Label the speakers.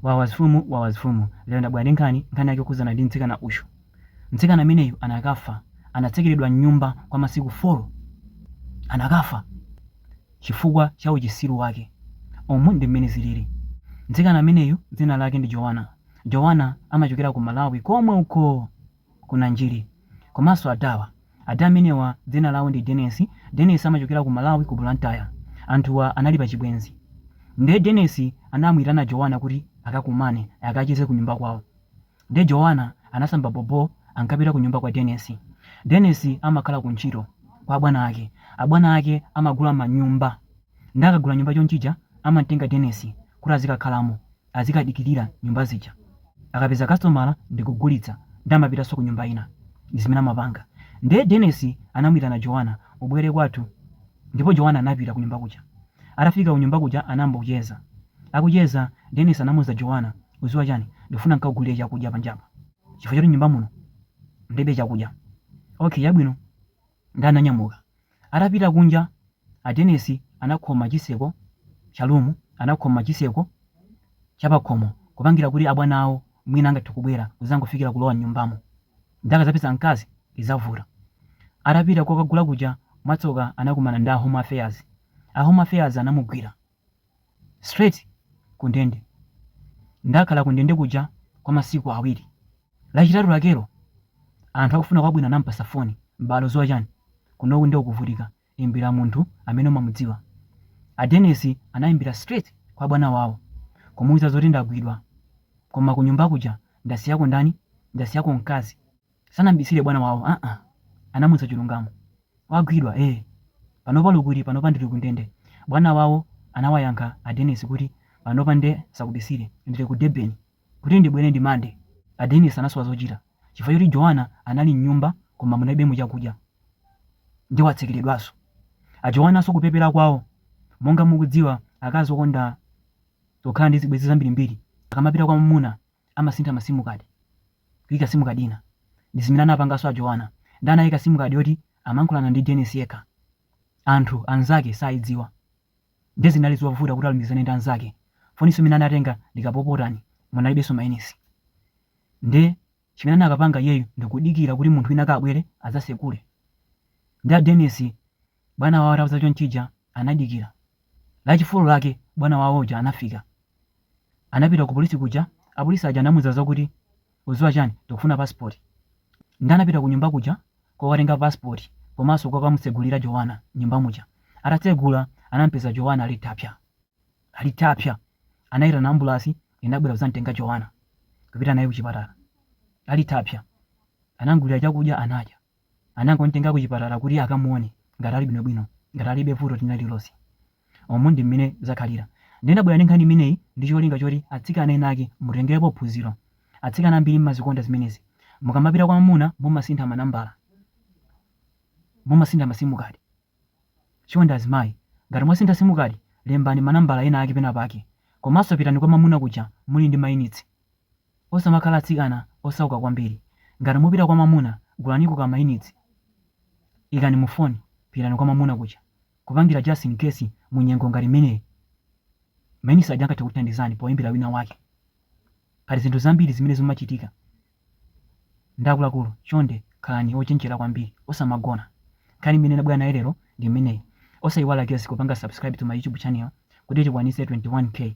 Speaker 1: Wawa zifumu wawa zifumu lero ndabwera ndi nkhani, nkhani yake yokhudzana ndi mtsikana uyu. Mtsikana ameneyu anakafa, anatsekeredwa mnyumba kwa masiku folo. Anakafa chifukwa cha uchisiru wake. Umu ndi mmene ziliri. Mtsikana ameneyu dzina lake ndi Joanna. Joanna amachokera ku Malawi komwe uko! ku Nanjiri komanso adawa. Ada amenewa dzina lawo ndi Denesi. Denesi amachokera ku Malawi ku Blantyre. Anthuwa anali pa chibwenzi. Nde Denesi anamuitana Jowana kuti akakumane akacheze ku nyumba kwawo. Nde Jowana anasamba bobho akupita ku nyumba kwa Denesi. Denesi amakhala ku ntchito kwa abwana ake. Abwana ake amagula manyumba. Nde akagula nyumba chonchija amamutenga Denesi kuti azikakhalamo. azikadikilira nyumba zija akapeza kastomala ndikugulitsa nde amapitanso kunyumba ina ndizimene amapanga nde Denes anamuitana Joana ubwele kwathu ndipo Joana anapita kunyumba kuja atafika kunyumba kuja anayamba kucheza akucheza Denis anamuuza Joana uziwa chani ndifuna nkakugulile chakudya panjapa chifukwa choti nyumba muno mulibe chakudya ok chabwino Nde ananyamuka. Atapita kunja a Dennis anakhoma chiseko Cha room anakhoma chiseko Cha pakhomo kupangira kuti abwana awo mwina angathe kubwera kuzangofikira kulowa mnyumbamo nde akazapeza mkazi izavuta. Atapita kokagula kuja mwatsoka anakumana ndi a home affairs. A home affairs anamugwira. straight ku ndende. Nde akhala ku ndende kuja kwa masiku awiri. Lachitatu lakelo anthu akufuna kwabwino anampasa foni m'bale uziwa chani? Kunoku nde ukuvutika imbira munthu amene umamudziwa. A Dennis anaimbira straight kwa bwana wawo kumuuza zoti ndagwidwa koma kunyumba kuja ndasiyako ndani? Ndasiyako mkazi. sanambisile bwana wawo aa anamuuza chilungamo wagwidwa ee panopa uli kuti panopa ndili ku ndende bwana wawo anawayankha a Dennis kuti panopa nde sakubisile ndili ku Durban kuti ndibwele ndi monday a Dennis anasowa zochita chifukwa choti Joana anali mnyumba koma munalibemo chakudya nde watsekeledwaso a Joanaso kupepela kwawo monga mukudziwa akazi okonda kukhala ndi zibwezi zambirimbiri akamapita kwa mwamuna amasintha ma sim card kuika sim card ina ndi zimene anapanganso a Joana nde anaika sim card yoti amankhulana ndi Dennis yekha anthu anzake saidziwa nde zinali zovuta kuti alumikizane ndi anzake foninso imene anatenga ndikapopotani munalibenso mainisi nde chimene anakapanga iyeyu ndikudikira kuti munthu wina akabwere adzasekule nde a Dennis Bwana wawo atauza chonchija anadikira. La chi 4 lake bwana wawo uja anafika. Anapita ku polisi kuja apolisi aja anamuza zokuti uziwa chani tikufuna passport. Nde anapita kunyumba kuja kokatenga passport komanso kokamutsegulira Jowana nyumba muja. Atatsegula anamupeza Jowana ali thapsya. Anaitana ambulasi inabwera kuzamutenga Jowana kupita naye kuchipatala ali thapsya. Anamugulira chakudya anadya. anangomtenga kuchipatala kuti akamuone ngati ali bwinobwino, ngati alibe vuto lina lililonse. Umu ndi mmene zakhalira. Ndiye ndabwera ndi nkhani imeneyi ndi cholinga choti atsikana enaake mutengerepo phunziro. Atsikana ambiri mmazikonda zimenezi. Mukamapita kwa mamuna mumasintha manambala. Mumasintha masimukadi. Chonde azimayi, ngati mwasintha simukadi, lembani manambala enaake penapake. Komanso pitani kwa mamuna kuja muli ndi mayunitsi. Osamakhala atsikana osauka kwambiri. Ngati mupita kwa mamuna, gulaniko ka mayunitsi. Ikani mu foni, pitani kwa mamuna kuja. Kupangira just in case mu nyengo ngati imeneyi. Mayunitsi aja angathe kukuthandizani poyimbira wina wake. Pali zinthu zambiri zimene zimachitika ndi akuluakulu. Chonde khalani ochenjera kwambiri. Osamagona. Nkhani imene ndabwera nayo lero ndi imeneyi. Osayiwala guys kupanga subscribe to my YouTube channel kuti tikwanitse 21K.